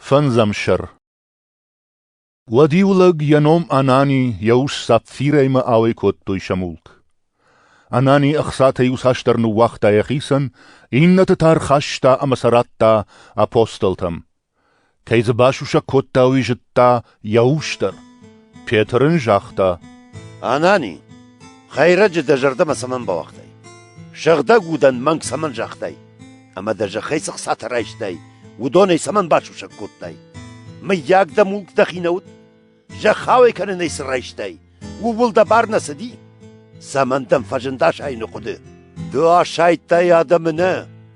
Фӕндзӕмсӕр. Уӕд-иу лӕг йӕ ном Анани йӕ ус Сапфирӕимӕ ауӕй кодтой сӕ мулк. Анани ӕхцатӕй иуцасдӕр ныууагъта йӕхицӕн, иннӕты та ӕрхаста ӕмӕ сӕ радта апостолтӕм. Кӕй дзы басусӕг кодта, уый зыдта, йӕ ус дӕр. Петр ын загъта: Анани, хӕйрӕджы дӕ зӕрдӕмӕ цӕмӕн бауагътай? Сыгъдӕг удӕн мӕнг цӕмӕн загътай? Ӕмӕ дӕ зӕххӕй цы хцатӕ райстай, уыдонӕй цӕмӕн басусӕг кодтай? Мыййаг дӕ мулк дӕхи нӕ уыд? Зӕхх ауӕй кӕнынӕй цы райстай, ууыл дӕ бар нӕ цыди? Цӕмӕн дӕм фӕзынд асайыны хъуыды? Ды асайдтай адӕмы нӕ,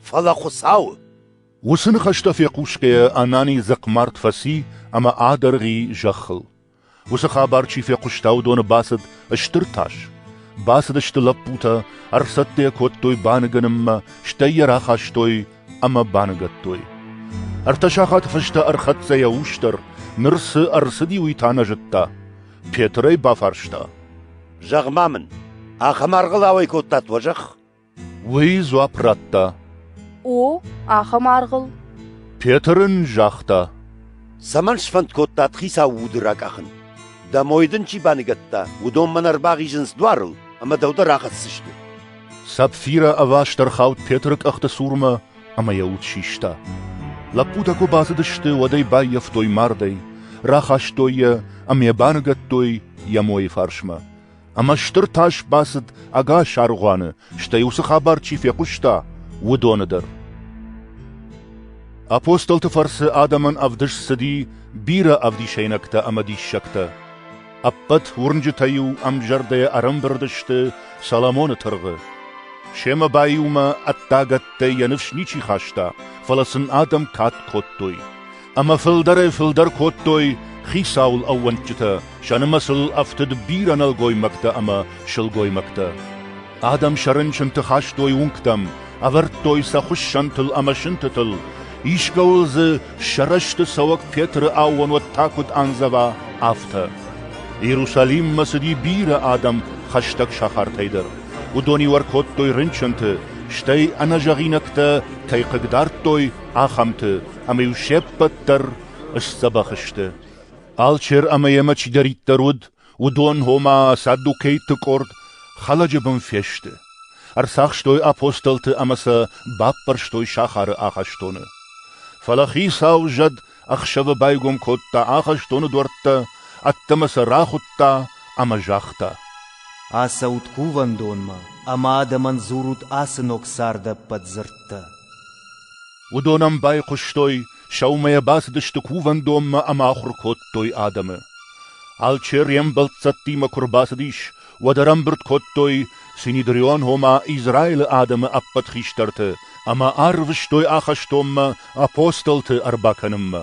фӕлӕ Хуыцауы. Уыцы ныхӕстӕ фехъусгӕйӕ Анани дзыхъмард фӕци ӕмӕ адӕргъи зӕххыл. Уыцы хабар чи фехъуыста, уыдоны бацыд стыр тас. Бацыдысты лӕппутӕ, ӕрцӕттӕ кодтой баныгӕнынмӕ, стӕй йӕ рахастой ӕмӕ баныгӕдтой. Ӕртӕ сахаты фӕстӕ ӕрхӕццӕ йӕ ус дӕр, ныр цы ӕрцыди, уый та нӕ зыдта. Петр ӕй бафарста. — Зӕгъ-ма мын, ахӕм аргъыл ауӕй кодтат уӕ зӕхх? Уый дзуапп радта. О, ахӕм аргъыл. Петр ын загъта. Цӕмӕн сфӕнд кодтат хицауы уды ракъахын? Дӕ мой дын чи баныгӕдта, уыдон мӕн ӕрбахизынц дуарыл, ӕмӕ дӕу дӕр ахӕссысты. Сапфиры ӕваст ӕрхауд Петры къӕхты цурмӕ ӕмӕ йӕ уд систа. Лӕппутӕ куы бацыдысты, уӕд ӕй баййӕфтой мардӕй, рахастой йӕ ӕмӕ баныгӕдтой йӕ мойы фарсмӕ. ӕмӕ стыр тас бацыд ӕгас аргъуаны, стӕй уыцы хабар чи фехъуыста, уыдоны дӕр. Апостолты фӕрцы адӕмӕн ӕвдыст цыди бирӕ ӕвдисӕйнӕгтӕ ӕмӕ диссӕгтӕ. Ӕппӕт уырнджытӕ-иу ӕмзӕрдӕйӕ ӕрӕмбырд сты Соломоны тыргъы. Семӕ баиумӕ ӕддагӕттӕй йӕ ныфс ничи хаста, фӕлӕ сын адӕм кад кодтой. ӕмӕ фылдӕрӕй-фылдӕр кодтой хицауыл ӕууӕндджытӕ, сӕ нымӕцыл ӕфтыд бирӕ нӕлгоймӕгтӕ ӕмӕ сылгоймӕгтӕ. Адӕм сӕ рынчынты хастой уынгтӕм, ӕвӕрдтой сӕ хуыссӕнтыл ӕмӕ сынтытыл, искӕуыл дзы сӕ рӕзты цӕуӕг Петры аууонуат та куыд андзӕва, афтӕ. Иерусалиммӕ цыди бирӕ адӕм хӕстӕг сахартӕй дӕр. Уыдон-иу ӕркодтой рынчынты, стӕй ӕнӕзӕгъинӕгтӕ кӕй хъыгдардтой, ахӕмты, ӕмӕ-иу се ппӕт дӕр сдзӕбӕх сты. Алчер ӕмӕ йемӕ чидӕриддӕр уыд, уыдон, ома саддукейты къорд, хӕлӕджы бын фесты. Ӕрцахстой апостолты ӕмӕ сӕ баппӕрстой сахары ахӕстоны. Фӕлӕ хицау зӕд ӕхсӕвы байгом кодта ахӕстоны дуӕрттӕ, ӕддӕмӕ сӕ рахуыдта ӕмӕ загъта: «Ацӕут кувӕндонмӕ ӕмӕ адӕмӕн дзурут ацы ног царды ӕппӕт дзырдтӕ». Уыдон ӕм байхъуыстой, сӕумӕ йӕ бацыдысты кувӕндонмӕ ӕмӕ ахуыр кодтой адӕмы. Алчер йе мбӕлццӕттимӕ куы рбацыдис, уӕд ӕрӕмбырд кодтой Синедрион ома Израилы адӕмы ӕппӕт хистӕрты ӕмӕ арвыстой ахӕстонмӕ апостолты ӕрбакӕнынмӕ.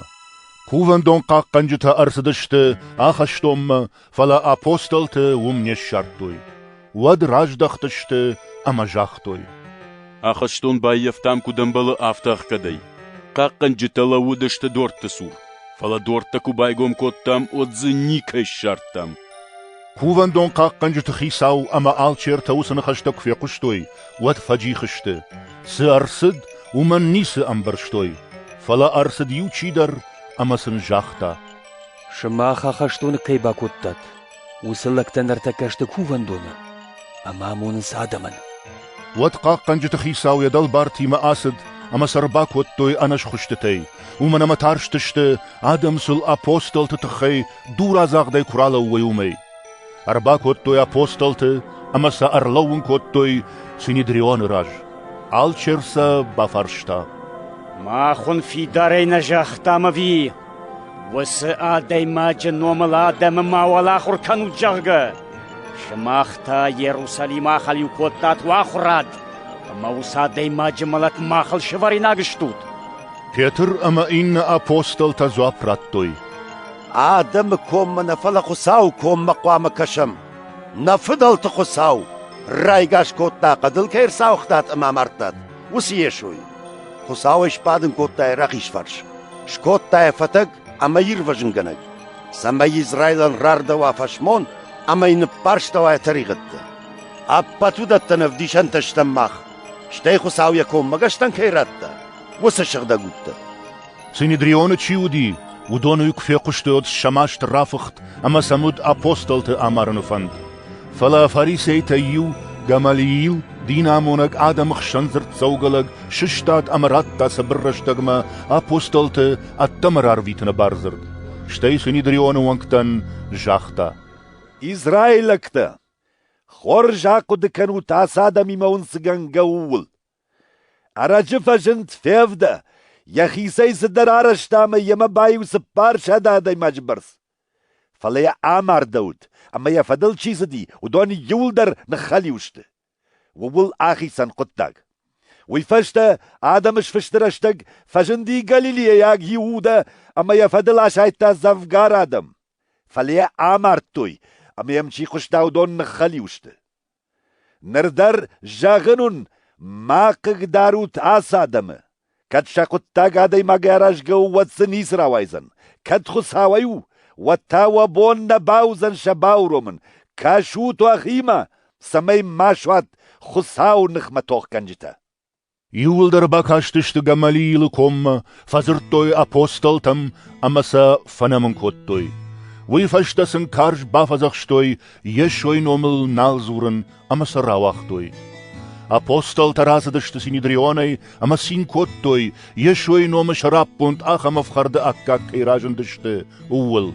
Кувӕндон хъахъхъӕнджытӕ ӕрцыдысты ахӕстонмӕ Фӕлӕ апостолты уым не ссардтой. Уӕд раздӕхтысты ӕмӕ загътой: Ахӕстон баййӕфтам куыд ӕмбӕлы, афтӕ ӕхгӕдӕй. Хъахъхъӕнджытӕ лӕууыдысты дортты цур, фӕлӕ дорттӕ куы байгом кодтам, уӕд дзы никӕй ссардтам. Кувӕндон хъахъхъӕнджыты хицау ӕмӕ алчертӕ уыцы ныхӕстӕ куы фехъуыстой, уӕд фӕджих сты. Цы ӕрцыд, уымӕн ницы ӕмбӕрстой, фӕлӕ ӕрцыд иу чидӕр ӕмӕ сын загъта: Сымах ахӕстоны кӕй бакодтат, уыцы лӕгтӕ ныртӕккӕ сты кувӕндоны ӕмӕ амонынц адӕмӕн. Уӕд хъахъхъӕнджыты хицау йӕ дӕлбартимӕ ацыд ӕмӕ сӕ ӕрбакодтой ӕнӕсхуыстытӕй, уымӕн ӕмӕ тарстысты, адӕм сыл апостолты тыххӕй дурадзагъдӕй куы ралӕууой, уымӕй. Ӕрбакодтой апостолты ӕмӕ сӕ ӕрлӕууын кодтой Синедрионы раз. Алчер сӕ бафарста. «Махуын фидарӕй нӕ загътам ӕви, уыцы адӕймаджы номыл адӕмы ма уӕлахуыр кӕнут, зӕгъгӕ? Сымах та Иерусалимы ахӕлиу кодтат уӕ ахуырад, ӕмӕ уыцы адӕймаджы мӕлӕт махыл сывӕринаг стут?» Петр ӕмӕ иннӕ апостолтӕ дзуапп радтой. Адӕмы коммӕ нӕ, фӕлӕ Хуыцауы коммӕ хъуамӕ кӕсӕм. Нӕ фыдӕлты Хуыцау райгас кодта, хъӕдыл кӕй ӕрцауыгътат ӕмӕ амардтат, уыцы Йесойы. Хуыцау ӕй сбадын кодта йӕ рахизфарс, скодта йӕ фӕтӕг ӕмӕ ирвӕзынгӕнӕг, цӕмӕй Израилӕн рардӕуа фӕсмон ӕмӕ йын ныппӕрстӕуа йӕ тӕригъӕдтӕ. Ӕппӕт уыдӕттӕн ӕвдисӕнтӕ стӕм мах, стӕй Хуыцау йӕ коммӕгӕстӕн кӕй радта, уыцы сыгъдӕг удтӕ. Синедрионы чи уыди, уыдоны куы фехъуыстаид сӕ маст рафыхт ӕмӕ сӕм уыд апостолты амарыны фӕнд. Фӕлӕ фарисейтӕй иу, Гамалиил, динамонӕг адӕмы хсӕн дзырддзӕугӕ лӕг, сыстад ӕмӕ радта цыбыр рӕстӕгмӕ апостолты ӕддӕмӕ рарвитыны бардзырд. Стӕй Синедрионы уӕнгтӕн загъта: «Израилӕгтӕ, хорз ахъуыды кӕнут ацы адӕмимӕ уынцгӕнгӕ ууыл. Ӕрӕджы фӕзынд Февдӕ, йӕхицӕй цыдӕр арӕзта ӕмӕ йемӕ баиу цыппарсӕдз адӕймаджы бӕрц. Фӕлӕ йӕ амардӕуыд, ӕмӕ йӕ фӕдыл чи цыди, уыдон иуылдӕр ныххӕлиу сты. Ууыл ахицӕн хъуыддаг. Уый фӕстӕ адӕмы сфысты рӕстӕг фӕзынди галилейаг Иудӕ ӕмӕ йӕ фӕдыл асайдта дзӕвгар адӕм. Фӕлӕ йӕ амардтой, ӕмӕ йӕм чи хъуыста, уыдон ныххӕлиу сты. Ныр дӕр зӕгъын уын, ма хъыгдарут ацы адӕмы: кӕд сӕ хъуыддаг адӕймагӕй аразгӕ у, уӕд дзы ницы рауайдзӕн; кӕд Хуыцауӕй у, уӕд та уӕ бон нӕ бауыдзӕн сӕ бауромын. кӕсут уӕхимӕ, цӕмӕй ма суат Хуыцауы ныхмӕ тохгӕнджытӕ. Иууылдӕр бакастысты Гамалиилы коммӕ, фӕдзырдтой апостолтӕм ӕмӕ сӕ фӕнӕмын кодтой. Уый фӕстӕ сын карз бафӕдзӕхстой Йесойы номыл нал дзурын ӕмӕ сӕ рауагътой. Апостолтӕ рацыдысты Синидрионӕй ӕмӕ цин кодтой, Йесойы номы сӕраппонд ахӕм ӕфхӕрды аккаг кӕй разындысты, ууыл.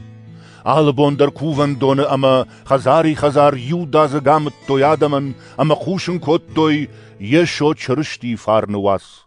Алы бон дӕр кувӕндоны ӕмӕ хӕдзари-хӕдзар иудадзыг амыдтой адӕмӕн ӕмӕ хъусын кодтой, йе со чырыстийы фарны уац.